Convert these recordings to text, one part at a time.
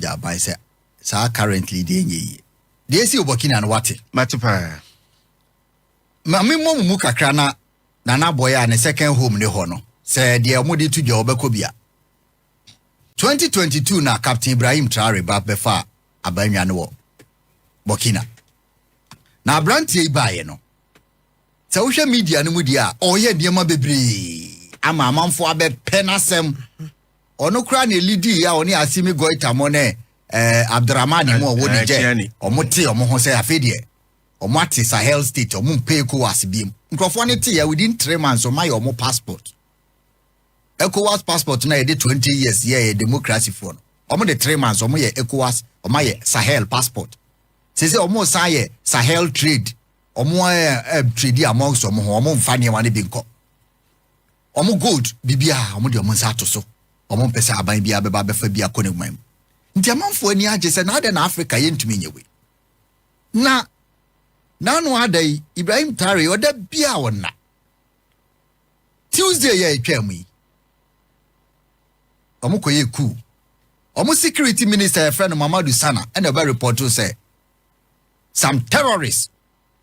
gya aban sɛ saa currently deɛ ɛnyɛ yie deɛ ɛsi wɔ Burkina no wate mate paa ma memmɔ mu mu kakra na nana abɔeɛ a ne second home ne hɔ no sɛ deɛ wɔde to dwa wɔbɛkɔ bi a 2022 na Captain Ibrahim Traore ba bɛfa abannwa no wɔ Burkina na aberanteɛ yi baeɛ no sɛ wohwɛ media no mu deɛ a ɔreyɛ nneɛma bebree ama amanfoɔ abɛpɛ n'asɛm ɔno koraa na elidi a ɔne Asimi Goita mo ne ɛɛ eh, Abdurrahman mu a ɔwɔ Niger ɔmo te ɔmo ho sɛ afei deɛ ɔmo ate Sahel state ɔmo mpɛ ECOWAS biem nkurɔfoɔ no te yɛ within three months ɔmo ayɛ ɔmo passport ECOWAS passport na yɛde twenty years yɛ yɛ democracy foɔ no ɔmo de three months ɔmo yɛ ECOWAS ɔmo ayɛ Sahel passport sese ɔmo san yɛ Sahel trade ɔmo ɛɛ eh, eh, trade amongst ɔmo ho ɔmo nfa nneɛma no bi nkɔ. Wɔn gold, biribiara, wɔde wɔn nsa ato so. Wɔmpɛ sɛ aban biara bɛba abɛfa bi akɔ n'aguman mu. Nti amanfoɔ ani agye sɛ na adɛn na Afrika yɛntumi nyɛ wei. Na n'ano ada yi, Ibrahim Traore, ɔda biara wɔnna. Tuesday yɛ ɛtwaa mu yi, wɔkɔyɛ kuu. Wɔn security minister yɛfrɛ no Mamadou Sana ɛna ɛbɛ repɔtoo sɛ some terrorists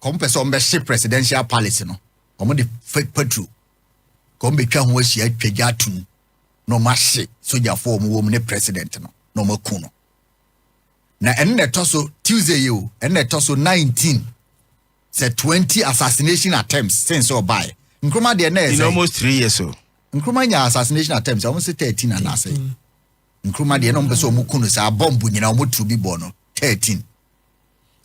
Wɔn pɛ sɛ wɔn bɛhye presidential palace no, wɔn de fake patrol ka wɔn betwa ho ahyia atwa gya ato mu na wɔn ahye sogyafo a wɔn wɔ mu ne president no na wɔn aku no. Na ɛno na ɛtɔ so Tuesday yi o, ɛno na ɛtɔ so 19 sɛ 20 assassination attempts sen sɛ ɔbaeɛ. Nkrumah deɛ na ɛsɛ. In almost three years so. Nkrumah nya assassination attempts a wɔn sɛ 13 anaasɛ. Nkrumah deɛ na wɔn pɛ sɛ wɔn ku no saa bɔmbu nyinaa wɔn tu bi bɔ no 13.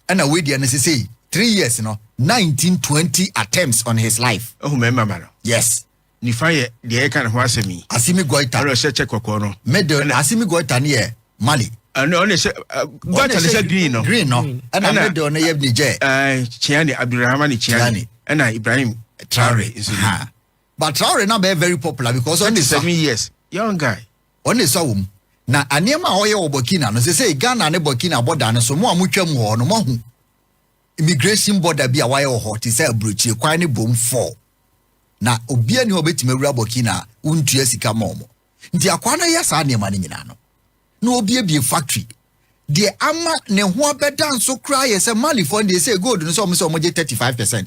ɛna wei deɛ no sesei three years no nineteen twenty attempts on his life. ehu mmarima ma no. yes. nifa yɛ deɛ ɛka ne ho asɛm yi. asimi goita. ɛna ɔhyɛ kyɛ kɔkɔɔ no. middle ɛna asimi goita ne yɛ mali. ɛna ɔna hyɛ goita ne hyɛ green no. green no ɛna middle no yɛ niger. ɛɛ kyiani abdulrahman kyiani ɛna ibrahim traore nso. but traore na bɛ very popular because ɔna seven years young guy. Ɔno na esua wɔ mu. Na nneɛma a ɔyɛ wɔ Burkina no, sesei Ghana ne Burkina bɔda no so, mo a motwam wɔ hɔ no, moahu immigration bɔda bi a wɔayɛ wɔ hɔ te sɛ aburokyire kwan ne bom fɔɔ. Na obiara nni hɔ a obetumi awura Burkina a wontua sika mma wɔn. Nti akwaa no reyɛ saa nneɛma no nyinaa no, na obiebie factory. Deɛ ama ne ho abɛda nso koraa yɛ sɛ Malifoɔ no deɛ sɛ gold no sɛ wɔn sɛ wɔgye thirty five percent.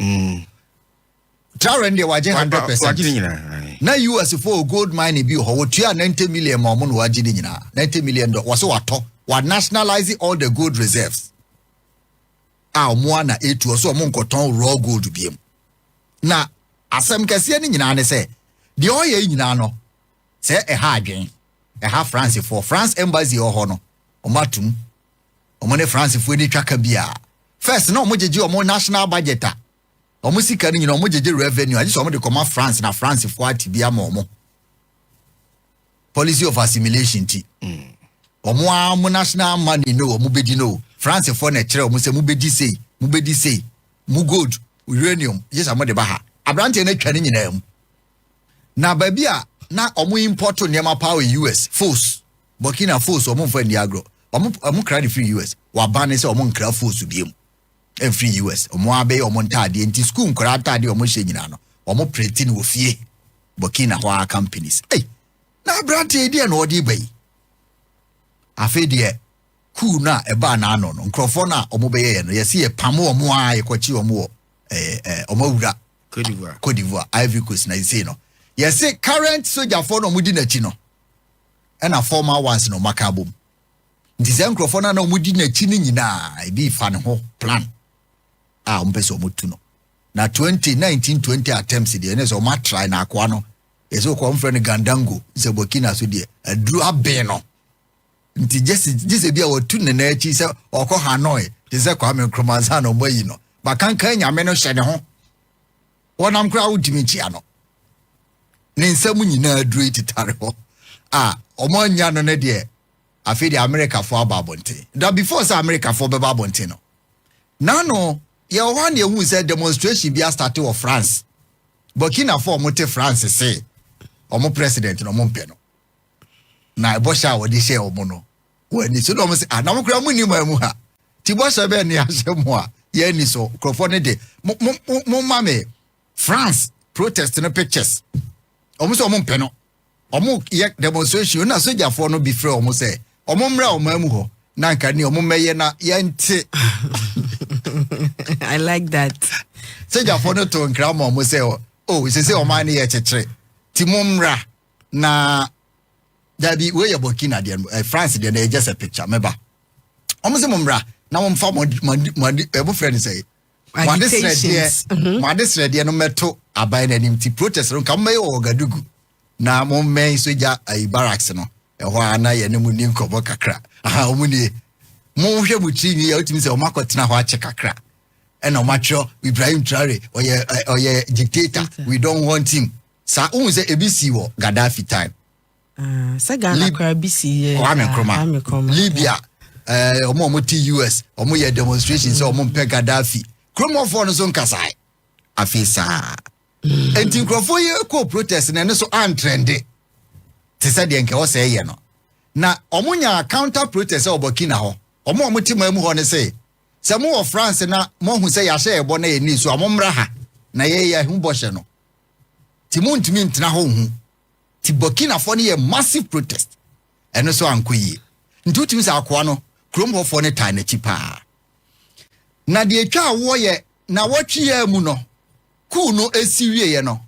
Traore no deɛ wagye hundred percent. Wagye ne nyinaa. Na US fo wɔ gold mine bi wɔ hɔ wɔtua ninety million ma wɔn na wagye ne nyinaa ninety million dɔ wɔsɛ watɔ wa nationalize all the gold reserves a wɔn a na etu ɔsɛ wɔn nkɔtɔn raw gold biem na asɛm kɛseɛ ne nyinaa ne sɛ deɛ ɔyɛ yi nyinaa no sɛ ɛha adwen ɛha France foɔ France embassy wɔ hɔ no wɔn atum wɔn ne France foɔ ani twa ka bi a first na wɔn gyegye wɔn national budget a. Wɔn sika no nyinaa wɔgyegye revenue agye sɛ wɔde kɔma France na Francefoɔ ate bi ama wɔn policy of assimilation ti. Mm. wɔn a mo national money no wɔn bɛdi no francefoɔ na ɛkyerɛ wɔn sɛ mo bɛdi sei mo bɛdi sei mo gold uranium gye sɛ mo de ba ha aberanteɛ no atwa ne nyinaa mu na baabi a na wɔn import nneɛma paa wɔ us fos burkina fos wɔn mfa nni agorɔ wɔn wɔn kra ne firi us waban ne sɛ wɔn nkra fos bie mu ɛmfiri US. Wɔn ara bɛyɛ wɔn ntaadeɛ nti sukuu nkwadaa ntaadeɛ a wɔhyɛ nyinaa no, wɔn prete no wɔ fie. Burkina hɔ ara companies. Ei, na aberanteɛ deɛ na ɔde ba yi. Afei deɛ kuu no a ɛbaa n'ano no, nkurɔfoɔ no a wɔbɛyɛeɛ no, yɛsi yɛ pam wɔn a yɛkɔkye wɔn wɔ ɛɛ ɛɛ wɔn awura. Cote d'Ivoire. Cote d'Ivoire, Ivory Coast na yɛsi no. Yɛsi current sogyafoɔ na wɔdi n'akyi no, ɛna former ones na wɔaka abom. Nti saa nkurɔfoɔ no a na wɔdi n'akyi no nyinaa, ebi fa ne ho plan a wɔpɛ sɛ wɔtu no. Na 20 1920 attempts deɛ ne sɛ wɔn atrae na akoa no ɛsɛ wɔkɔ wɔn frɛ no Gandango sɛ Burkina so deɛ aduru aben no nti gye sɛ bi a wɔtu ne nan akyi sɛ ɔkɔ Hanoi te sɛ Kwame Nkrumah ansa na wɔayi no bakankan nyame no hyɛ ne ho Wɔnam koraa wodi me gye ano. Ne nsɛm nyinaa aduru yi tetare hɔ a wɔn anya no ne deɛ afei deɛ Amerikafoɔ aba abɔnten. Da before sɛ Amerikafoɔ bɛba abɔnten no, n'ano yɛwɔ hɔ a na yɛhu sɛ demonstration bi astate wɔ France. Burkinafoɔ a wɔte France se wɔn president na wɔmpɛ no. Na ɛbɔhyɛ a wɔde hyɛɛ wɔn no, wɔn ani so na wɔn sɛ anam koraa mo ni maa mu ha ti bɔhyɛ bɛn ne ahyɛ mo a yɛn ani so nkurɔfoɔ ne de mo mo mo mo ma me France protest no pictures wɔn sɛ wɔn mpɛ no wɔn yɛ demonstration na sogyafoɔ no bi frɛ wɔn sɛ wɔn mmerɛ a wɔn amu hɔ na nka ne wɔn mmɛyɛ na yɛn te. I like that. sogyafoɔ no to nkira ma wɔn sɛ o sese wɔn ani yɛ kyekyere ti mo mmra na. dabi wei yɛ burkina deɛ no eh, france deɛ no ɛyɛ just a picture mɛba wɔn sɛ mo mmra na wɔn fa mo adi mo adi mo adi ɛbo frɛ no sɛ mo ade Agitations. Mhm. srɛdeɛ mo ade srɛdeɛ no mɛto aban no anim ti protest no nka mo mɛyɛ wɔ ɔgadugu na mo mmɛn sogya ayi barracks no ɛhɔ a na yɛne mo ni nkɔmɔ kakra aha wɔn nie mo hwɛ mo tiri nwi yɛ wotumi sɛ wɔn akɔtena hɔ akyɛ kakra ɛna wɔn atwerɛ ibrahim traore ɔyɛ ɛ, ɔyɛ dictator we don't want him Saa wohu sɛ ebi sii wɔ Gaddafi time. Ah, sɛ Ghana koraa bi si yɛ. Kwame Nkrumah. Libya, ɛɛ eh, wɔn a wɔte US, wɔn yɛ demonstration sɛ wɔn mpɛ Gaddafi. Kuromɔfoɔ no so nkasae. Afei saa. Mm. Enti nkurɔfoɔ yi kɔ protest na ɛno so antrɛnde. Te sɛ deɛ nkɛwɔ sɛ ɛyɛ no. Na wɔn nya counter protest sɛ ɔbɔ Kina hɔ. Wɔn a wɔte maa mu hɔ no sɛ sɛ mo wɔ France na mo ahu sɛ yɛahyɛ ɛbɔ na yɛ ni so a mo mmra ha na yɛyɛ ho bɔhyɛ no. nti montumi ntena hɔ nhu nti Burkinafoɔ no yɛɛ massive protest ɛno nso ankɔ yie nti wotumi sɛ akoa no kurom hɔfoɔ no taa n'akyi paa na deɛ ɛtwa awoɔ yɛ na wɔtweɛ mu no kuu no ɛsi wieɛ no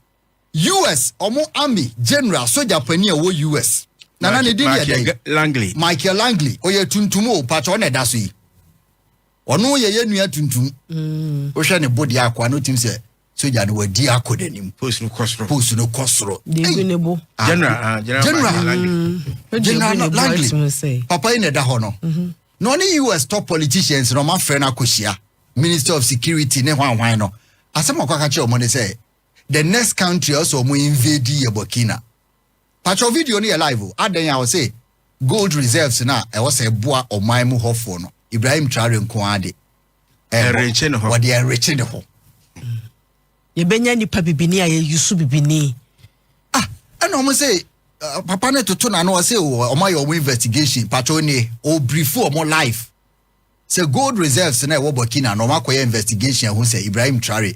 US ɔmo army general soja pani a ɛwɔ US na na ne din yɛ dɛn Michael Langley ɔyɛ tuntum o patwa ɔna ɛda so yi ɔno yɛ yɛ nua tuntum mm. wohwɛ ne body akoa no tim sɛ sogya no wadi akɔ n'anim post no kɔ soro post no kɔ soro degu ne bo ah, general ah, general mm-hmm. general langley papa yi na ɛda hɔ no mm-hmm. na ɔne us top politicians na ɔma frɛ no akɔhyia minister of security ne hwanhwan no asɛm ɔkɔka kyerɛ ɔmo ne sɛ the next country ɔsɛ ɔmo invade yɛ burkina patro video no yɛ live o adɛn a ɔsɛ gold reserves na ɛwɔ sɛ ɛboa ɔman mu hɔfoɔ no ibrahim traore nko ara de ɛrekye ne ho wɔde ɛrekye ne ho. Mm. yɛbɛnya nipa bibini a yɛyusu bibini. ah ɛna wɔn sɛ uh, papa ne toto na no ɔsɛ wɔn oh, ayɛ wɔn investigation pato ne ɔbirifu oh, wɔn life sɛ gold reserves na ɛwɔ burkina na wɔn akɔyɛ investigation ɛho sɛ ibrahim traore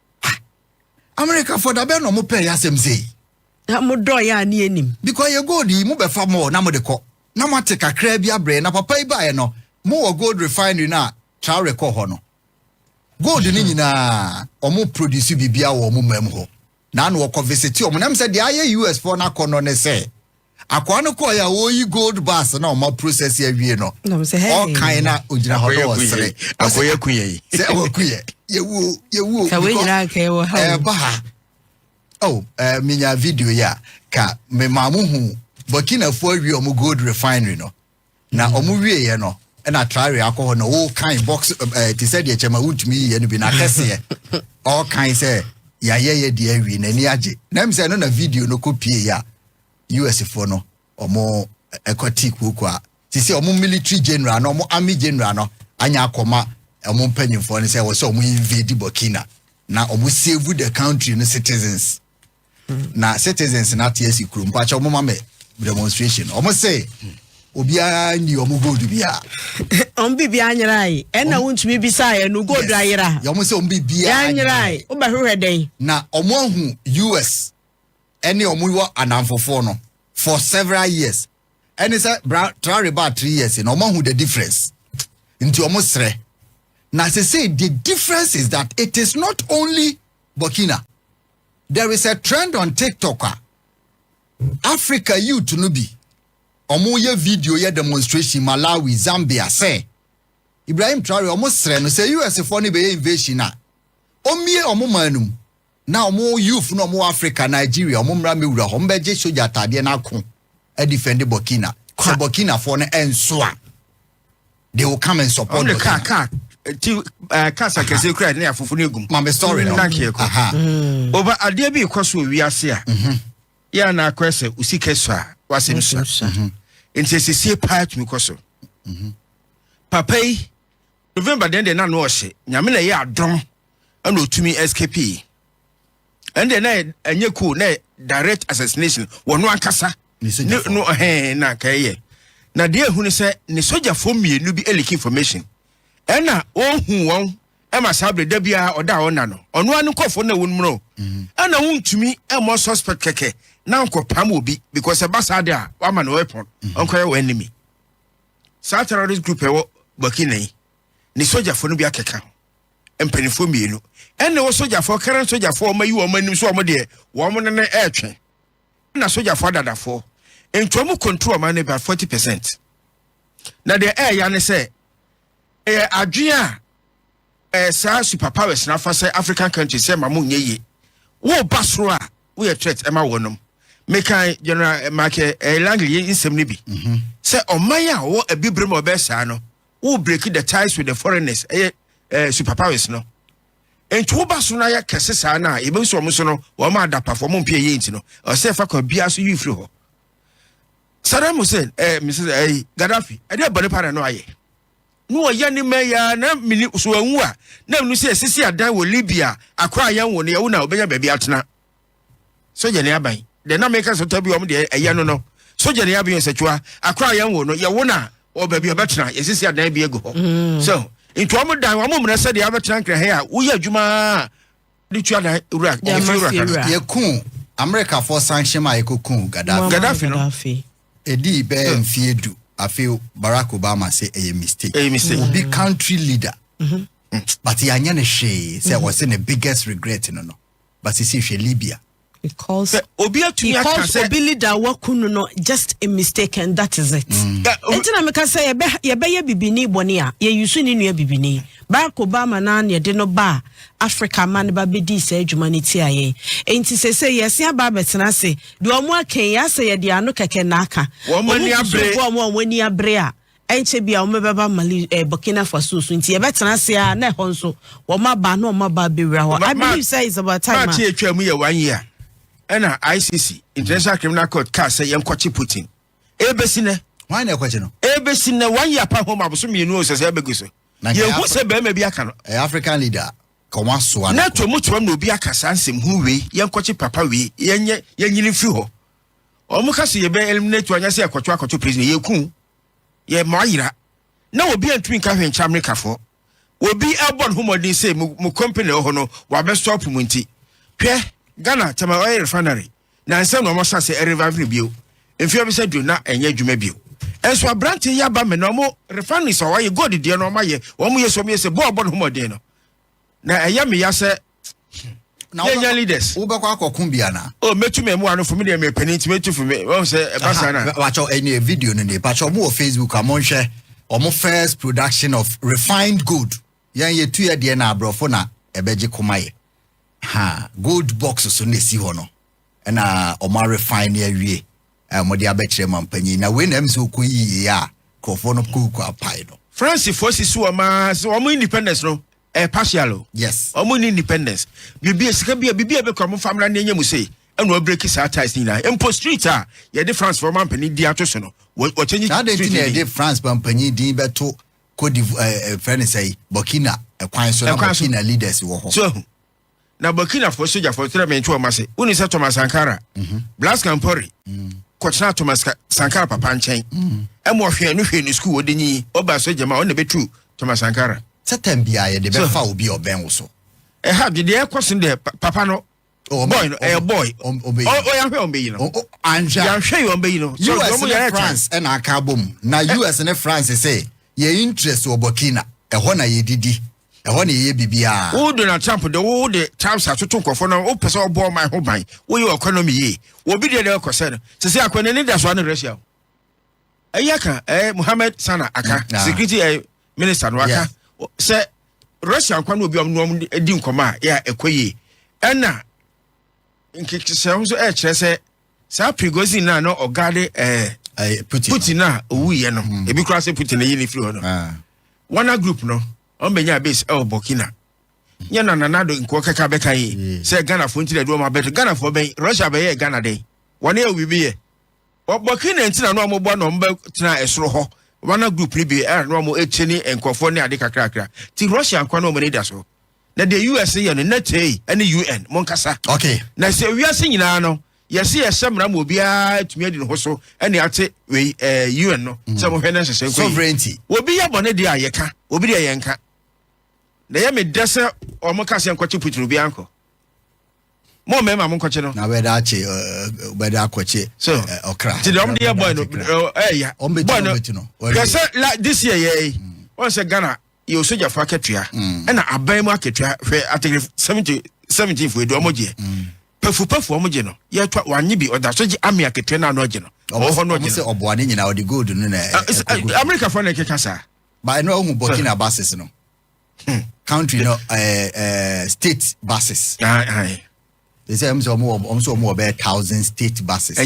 Ha! Amerikafoɔ da bɛn na ɔmo pɛɛ yɛ asɛm sei? Na mo dɔɔ yɛ a ne yɛ nim. Because yɛ gold yi mo bɛ fa more na mo de kɔ na mo ate kakraa bi abrɛ yɛ na papa yi baeɛ no mo wɔ gold refinery no a Traore kɔɔ hɔ no gold no nyinaa ɔmo produce biribiara wɔ ɔmo mam hɔ na na ɔkɔ visite ɔmo na ɛm sɛ deɛ ayɛ US foɔ no akɔnɔ ne sɛ Akoa no kɔɔe a ɔreyi gold bars na ɔma process awie no, ɔkae na ɔgyina hɔ na ɔsere. Akoya ku yɛn. Sɛ waku yɛ, yɛwuo, yɛwuo. Sɛ wɔnyina anka ɛwɔ ha. Ɛba ha. Oh, uh, menya video yi a, ka mema mo hu Burkinafoɔ awie ɔmo gold refinery no. na ɔmo wieɛ no na traore akɔ hɔ na ɔɔkan box ɛɛ te sɛ deɛ kyɛma wontumi yiyɛ no bi na kɛseɛ ɔɔkan sɛ yɛayɛ yɛ deɛ awie n'ani agye na ɛmu sɛ ɛno na video no kɔ pie yɛ a us foɔ no ɔmo ɛkɔ tii kuokuo a te sɛ ɔmo military general no ɔmo army general no anya akɔma ɔmo mpanyinfoɔ no sɛ wɔ sɛ ɔmo invade burkina na ɔmo save the country no citizens. na citizens na ate asi kurom mpakyɛ ɔmo ma me demonstration ɔmo se obiara ni ɔmo gold biara. ɔmo bi biara nyera yi ɛna wontumi bisa yɛ no gold ayera. yɛ ɔmo sɛ ɔmo bi biara nyera yi wobɛhwehwɛ dɛn. na ɔmo ahu us ɛne ɔmo wɔ anamfofoɔ no for several years ɛne sɛ bra traore baa three years na ɔmo ahu the difference nti ɔmo srɛ na sese the difference is that it is not only burkina. There is a trend on TikTok a Africa youth no bi ɔmo yɛ video yɛ demonstration Malawi, Zambia sɛ Ibrahim Traore ɔmo srɛ no sɛ US foɔ no bɛyɛ invasion a ɔmmie ɔmo man no mu na ɔmo youth no ɔmo wɔ Africa, Nigeria ɔmo mmra mmɛwura hɔ ɔmo bɛgye sogya ataadeɛ no ako adifɛnde Burkina sɛ Burkina foɔ no ɛnso a. they will come and support the car car ti eh, cars akɛse kura ne afofo ne egum maame story no nanke yɛ kɔ over adeɛ bi kɔ so wɔ wiase a mhm. yɛ a na akɔyɛ sɛ osi kɛso a wasɛm sua mhm. nti esiesie paa tumi kɔ so mhm. papa yi november deɛ deɛ na no ɔhyɛ nyame na ɛyɛ adɔm ɛna otumi escape yi. ɛnde na ɛnyɛ ko na direct assassination wɔ no ankasa ne no ɛhɛn na kɛyɛ na deɛ ehu ne sɛ ne sojafoɔ mmienu bi leak information ɛna ɔhu wɔn ɛma saa abiri da biara ɔda a ɔna no ɔno ano nkɔfoɔ na wɔn mu no mhm. ɛna wɔn ntumi ɛmɔ suspect kɛkɛ na nkɔ pam obi because ɛba saa de a wama no weapon mhm. ɔnkɔyɛ wɔn enemy saa terrorist group ɛwɔ burkina yi ne sojafoɔ no bi akeka ho. mpaninfoɔ mmienu ɛne wɔ sogyafoɔ karen sogyafoɔ ɔma yi wɔn anim so wɔn deɛ wɔn ne ne ɛretwe na sogyafoɔ adadafoɔ nti wɔn control ɔman no about forty percent na deɛ ɛɛya ne sɛ ɛyɛ adwene a ɛɛ saa super powers na afa sɛ african country sɛ ma mo nyɛ yie wɔn ba soro a wɔyɛ threat ɛma wɔn nom mekan general marke ɛɛ langley nsɛm no bi mhm. sɛ ɔman a wɔwɔ abibire mu ɔbɛɛ saa no. wo break the ties with the foreigners ɛyɛ eh, super powers no nti woba so no ayɛ kɛse saa no a yɛbɛhu sɛ ɔmo so no wɔma adapafo ɔmo mpɛ yɛ nti no ɔsɛ fa kwan biara so yi firi hɔ Saddam Hussein eh, Mrs. Eh, Gaddafi ɛdeɛ bɔne pa na no ayɛ na wɔyɛ ne ma yɛ na mini so anwu a na menu sɛ ɛsisi adan wɔ Libya akora yɛn wo no yɛwo na ɔbɛnya baabi atena sogyani aban deɛ na meka sɛ tɔ bi wɔn deɛ ɛyɛ no no sogyani aban nsɛtwa akora yɛn wo no yɛ wo na wɔ baabi ɔbɛtena yɛsisi adan bi agu hɔ mm. so nti wɔn dan wɔn mmerɛ sɛ deɛ abɛtena nkira hɛ a woyɛ adwuma de tua dan wura efi wura kan. yɛkun amerikafoɔ sanhyɛm a yɛkɔkun gaddafi gaddafi no ɛdii bɛɛ hmm. mfie du afei barack obama sɛ ɛyɛ mistake ɛyɛ mistake obi country leader mm -hmm. but yɛanyɛ no hwee sɛ wɔsɛ ne biggest regret no no but sisi hwɛ libya because obi atumi aka sɛ because obi leader waku no no just a mistake and that is it mm. nti na meka sɛ yɛbɛyɛ bibini bɔne a yɛyusu ne nua bibini barack obama na na yɛde no ba africa ma no ba bɛdii saa adwuma no tia yɛn nti sɛ sɛ yɛse aba abɛtena ase deɛ ɔmo akɛn yɛasɛ yɛde ano kɛkɛ na aka ɔmo ani abere a Ɛnkyɛ biara wɔbɛba Mali, eh, Burkina Faso so nti yɛbɛtena ase a na ɛhɔ nso wɔn aba na wɔn aba abɛwura hɔ. I believe sɛ it's about time. March atwa mu yɛ one year ɛna ICC International mm. Criminal Court kaa sɛ yɛnkɔkye Putin. Ebesi nɛ. Wɔn na ɛkɔkye no. Ebesi nɛ one year pa home aboso mmienu o sɛsɛ ɛbɛgu so. Yɛhu sɛ bɛrima bi aka no. Ɛyɛ eh, African leader ka wɔn asoa. Na to mu to na obi aka saa nsɛm hu wei yɛnkɔkye papa wei yɛnyɛ yɛnyini firi hɔ. wɔn ka sɛ yɛbɛ eliminate anya sɛ ɛkɔto akɔto prison yɛ ku yɛ mɔ ayira na obi antumi nka hwɛ nkyɛn amerikafoɔ obi ɛbɔ ne ho mɔden sɛ mo mo company ɛwɔ hɔ no wabɛ stop mu nti hwɛ ghana tɛma ɔyɛ refinery na nsɛm na wɔn sa sɛ ɛrevive ne bio mfeɛ bi sɛ du na ɛnyɛ adwuma bio ɛnso aberante yɛ aba mɛ na wɔn refinery sɛ wɔayɛ gold deɛ na wɔn ayɛ wɔn yɛ sɛ wɔn yɛ sɛ bɔɔl bɔ ne ho mɔden no na ɛyɛ meya sɛ na yɛnya leaders wobɛkɔ akɔko bi ana o mɛtu me mmoa no fo medeɛ mepɛne nti mɛtu fo wɔm sɛ ɛba saa no wakyɛ ɛne video no ne pakyɛ ɔmo wɔ facebook a monhwɛ ɔmo first production of refined gold yɛn yɛtu yɛ deɛ na aborɔfo na ɛbɛgye koma yɛ ha gold box so na ɛsi hɔ no na wɔn arefine ne awie a wɔde abɛkyerɛ mampanyin na wei na ɛm sɛ ɔkɔ yie a nkurɔfoɔ no kɔkɔ apae no. francefoɔ sisi wɔn ara sɛ wɔn independence no ɛyɛ partial o yes wɔn ni independence biribi sika bi a biribi a ɛbɛkura wɔn famra ne ɛnyɛ mu sei ɛna ɔbreki saa ties ne nyinaa mpo street a yɛde francefoɔ mampanyin di ato so no wɔkyɛ nyi saa de ti na yɛde france mampanyin din bɛto kodi ɛɛ fɛn ne sɛ burkina ɛkwan so na burkina leaders wɔ hɔ. so ehu. na burkinafoɔ sogyafoɔ kyerɛ me ntoɔ ma se woni sɛ thomas sankara mhm. blas campori mm. kɔtena thomas sankara papa nkyɛn mm. ɛma ɔhwɛ no hwɛ ne sukuu wɔde nyi ɔba sogya ma ɔna bɛtu thomas sankara sɛ tam biaa yɛde bɛfa obi a ɔbɛn wo so ɛha de deɛ ɛkɔ so deɛ papa no oh, boy no ɛyɛ boy ɔyɛhwɛ ɔmbɛyi no yɛhwɛ yɛ ɔmbɛyi no us ne france ɛna aka abɔ mu na us ne france sɛ yɛ interest wɔ burkina ɛhɔ na yɛdidi Ɛhɔ na yɛyɛ biribiara. Wo Donald Trump de wo de Trumps atoto nkurɔfoɔ no wopɛ sɛ ɔbɔ ɔman ho ban woyɛ economy yie wɔbi deɛ deɛ ɔkɔsɛ no sisi akɔ n'ani da so ano Russia ɛyɛ aka ɛɛ Mohammed Sana aka mm, security ɛɛ minister no aka sɛ Russia nkwa no obi ɔmo ɔmo di nkɔmɔ a yɛ ɛkɔ yie ɛna nkekisɛ nso ɛɛkyerɛ sɛ. Saa Prigozhin no a na ɔgaade ɛɛ eh, eh, Putin Putin no a owuiɛ no, mm. ebi koraa sɛ Putin no yi ne firi hɔ no. Ah. Wagner group no, wɔn bɛnya base ɛwɔ Burkina. Nyɛ na nanado nkoɔ kɛkɛ abɛka yi sɛ Ghanafoɔ nti na ɛde wɔn abɛto. Ghanafoɔ bɛn, Russia bɛyɛ Ghana dɛn? Wɔn yɛ obi bi yɛ. Burkina nti na na wɔn bɔ na wɔn bɛtena ɛsoro hɔ. Wagner group no bi ɛna na wɔn akyɛ ne nkurɔfoɔ ne ade kakrakra. Ti Russia nkwa na wɔn ani da so. na deɛ us yɛ no na tei ɛne un monkasa okay na sɛ wiase nyinaa no yɛse yɛhyɛ mmara ma obiara tumi adi ne ho so ɛne ate wei ɛɛ eh, un no mm. sɛ mohwɛ no nhyehyɛ nkɔ sovereignty obi yɛ bɔne deɛ a yɛka obi deɛ yɛnka na yɛ me dɛ sɛ ɔmo ka sɛ nkɔkye putin obiara nkɔ mo mmarima mo nkɔkye no. na bɛda akye bɛda akɔkye ɔkra. ti dɔm de yɛ bɔɔl no ɛɛya bɔɔl no hwɛ sɛ la this year yɛ yi wɔn sɛ ghana yɛ osogyafo akatua mm. ɛna aban mu akatua hwɛ ategere seventy seventeen fo edu ɔmo gyeɛ mm. pafupafu ɔmo gye no yɛtwa wanye bi ɔda so gye ame akatua na ano agye no ɔwɔ hɔ no ɔgye no. ɔmo sɛ ɔboa ne nyinaa ɔde gold no na ɛkoko. amerika fɔ na ɛkeka saa. ba ɛnu ahu burkina basis no hmm. country no ɛɛ ɛɛ state basis. ɛsɛ ɛmu sɛ ɔmo wɔ ɔmo sɛ ɔmo wɔ bɛɛ thousand state basis.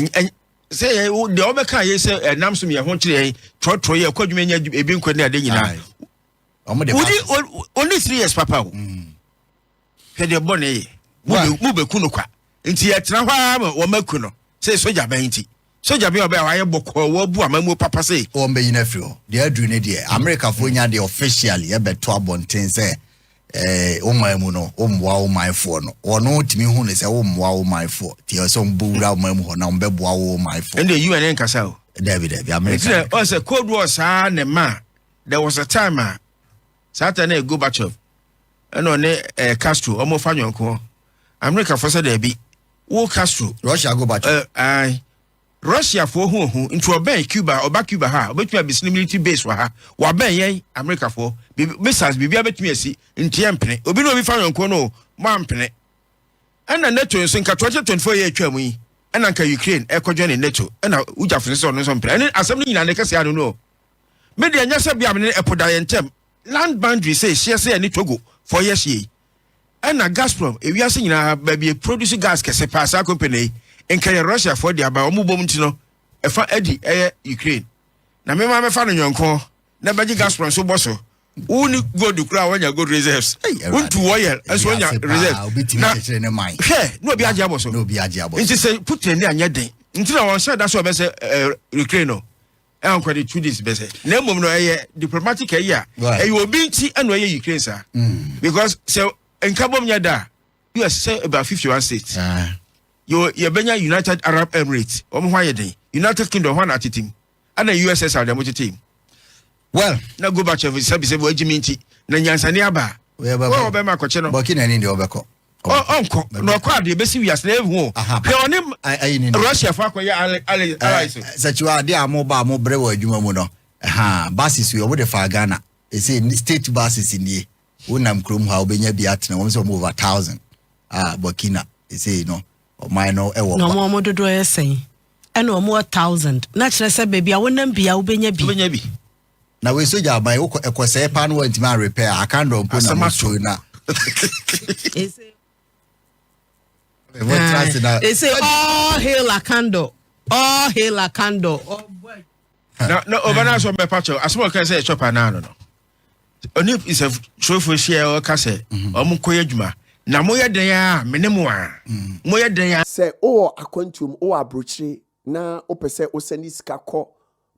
sɛ yɛ deɛ ɔbɛka yɛ sɛ ɛnam so mi ɛho kyerɛ yɛ trɔtrɔ yɛ ɛkɔ adwuma nya ebi nkɔ ne ade nyinaa wodi only three years papa o mm. hwɛ deɛ bɔ ne yɛ mu bɛ ku no kwa nti yɛtena hɔ ara ma wɔn aku no sɛ sogya bɛn nti sogya bi a ɔbɛyɛ wayɛ bɔkɔɔ wɔbu amamuo papa sɛ. wɔn bɛyi no afiri hɔ deɛ aduru ne deɛ amerikafoɔ nya deɛ officially yɛbɛto abɔnten sɛ eh, wo man mu no wommoa wo manfoɔ no wɔno tumi hu ne sɛ wommoa wo manfoɔ nti ɛwɔ sɛ ɔmbɔ wura wo man mu hɔ na ɔmbɛboa wo manfoɔ ɛnde un ne nkasa o dabi dabi amerika ɔ sɛ cold war saa ne ma there was a time a saa ta ne gobachev ɛna ɔne eh, castro ɔmofa nyɔnko amerikafoɔ sɛ daabi wo castro russia gobachev uh, eh, Russia foɔ hu ohu nti wɔbɛn Cuba wɔba Cuba ha a wɔbɛtumi abesi no military base wɔ ha wɔabɛn yɛn America foɔ biribi missiles biribiara bɛtumi asi nti yɛn mpene obi ne obi fa yɔnko no o mo ampene ɛna NATO nso nka 2024 yɛ atwa mu yi ɛna nka Ukraine ɛkɔdwɛn ne NATO ɛna wogya fo sɛ ɔno nso mpene ɛne asɛm no nyinaa ne kɛse ano no o me deɛ nyɛ sɛ bia me ne ɛpo da yɛn ntɛm land boundary sɛ ɛhyeɛ sɛ ɛne Togo foɔ yɛ hyeɛ yi ɛna Gazprom ewiase nyinaa baabi a produce gas kɛse paa saa company yi nka yɛ Russia foɔ de aba wɔn bom nti no ɛfa adi ɛyɛ Ukraine na mema mɛfa no nyɔnko na bɛgye Gazprom so bɔ so wo ne gold kura wɔnya gold reserves wontu oil nso wɔnya reserves na hwɛ na obi agye abɔ so nti sɛ Putin ne anyɛ den nti na wɔn hyɛ da so ɔbɛsɛ Ukraine no ɛnkɔ de two days bɛsɛ na mmom no ɛyɛ diplomatic ɛyi a ɛyɛ obi nti ɛna ɛyɛ ukraine saa mm. because sɛ nkabom nyɛ da a us sɛ about fifty one states ah. yɛ yɛbɛnya united arab emirates wɔn ho ayɛ den united kingdom hɔn atete mu ɛna ussr deɛ mo tete mu well na gorbachev sɛbisɛbi wɔagye mi nti na nyansani aba wɔn a wɔbɛma akɔkye no burkina ni deɛ wɔbɛkɔ ɔnkɔ na ɔkɔ adeɛ bɛsi wiase na ɛhu hwɛ ɔne russia fa akɔyɛ allies sɛkyiwa adeɛ a moba a mobrɛ wɔ adwuma mu no ha bases wei ɔmode faa ghana ɛsɛ state bases nie wonam kurom hɔ a wobɛnya bi atena wɔm sɛ ɔmo over thousand a burkina ɛsei no ɔman no ɛwɔ na ɔmo ɔmo dodoɔ yɛ sɛn ɛna ɔmo wɔ thousand na kyerɛ sɛ baabi a wonam bia wobɛnya bi na wei sogya aban wokɔ ɛkɔsɛe paa no wantumi arepɛ a akan dɔ mpo na moso na ɛsɛ all hail akandɔ all hail akandɔ na na ɔbɛ na asɔm bɛpa kyɛw asɔm ɔka sɛ ɛkyɛ paa naano no ɔne nsɛmfurofo hyia ɔka sɛ ɔmo nkɔyɛ adwuma na moyɛ dɛn a mene mo a moyɛ dɛn a sɛ wowɔ akwantuom wowɔ aburokyire na wopɛ sɛ wosɛne sika kɔ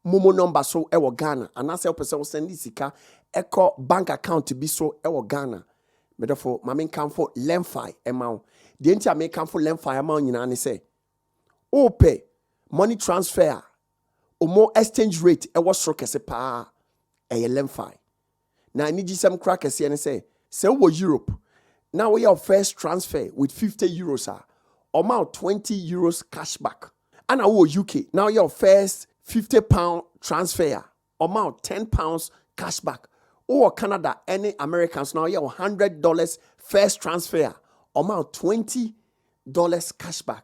Momo number so wɔ Ghana anaasɛ wopɛ sɛ wo sɛnde sika kɔ bank account bi so wɔ Ghana me dɔfo ma me nkamfo Lemfi ma wo. Deɛ nti a mekamfo Lemfi ama wo nyinaa ne sɛ wopɛ money transfer a wɔn exchange rate wɔ soro kɛse paa ɛyɛ Lemfi. Na anigyesɛm koraa kɛseɛ ne sɛ, sɛ wowɔ Europe na woyɛ wo first transfer with 50 euros a, wɔma wo 20 euros cashback. Ɛna wowɔ UK na woyɛ wo first 50 pound transfer a, wɔma wo 10 pounds cashback. Wowɔ Canada ne America nso na woyɛ wo 100 dollars first transfer a, wɔma wo 20 dollars cashback.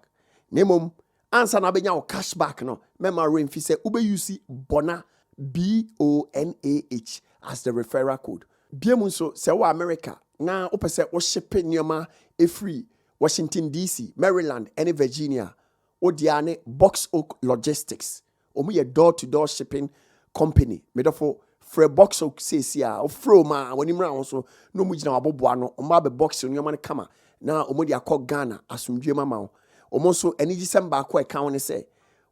Na mmom Ansa na abenya wo cash back no, mɛma werɛ mfi sɛ wobɛ use BONA, B-O-N-A-H, as the referral code. Biom nso, sɛ wowɔ Amerika na wopɛ sɛ wo shipe nneɛma firi Washington DC, Maryland ne Virginia a, wo dea ne Box Oak Logistics. Wɔn yɛ door to door shipping company me dɔfo frɛ box o seesie a wofrɛ wɔn a wɔn anim ra wɔn so na wɔn gyina waboboa no wɔn abɛ box nneɛma no kama na wɔn de akɔ Ghana asomdwie ma ma wo wɔn nso anigyesɛm baako a ɛka ho ne sɛ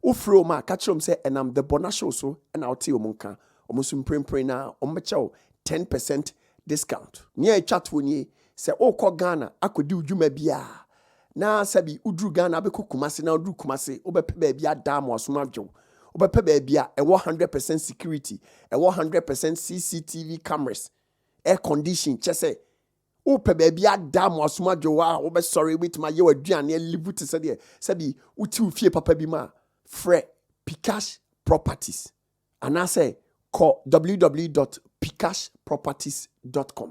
wofrɛ wɔn a ka kyerɛ wɔn sɛ ɛnam the Bɔnashow so na wote wɔn nka wɔn nso mprempren na wɔn bɛkyɛ wo ten percent Discount, Nea etwa toɔ nie, sɛ worekɔ Ghana akɔdi wo dwuma bi a, na sɛbi woduru Ghana abɛkɔ Kumasi na woduru Kumasi wobɛpɛ baabi ada ama w'asom adwo wo. Wobɛpɛ baabi a ɛwɔ hundred percent security, ɛwɔ hundred percent CCTV cameras, air condition, kyerɛ sɛ wopɛ baabi ada ama w'asom adwo wo a wobɛsɔre, wobɛtumi ayɛ w'aduane alivu te sɛ deɛ sɛbi wote wo fie papa bi mu a, frɛ Pcash Properties. Anaasɛ kɔ www.picashproperties.com.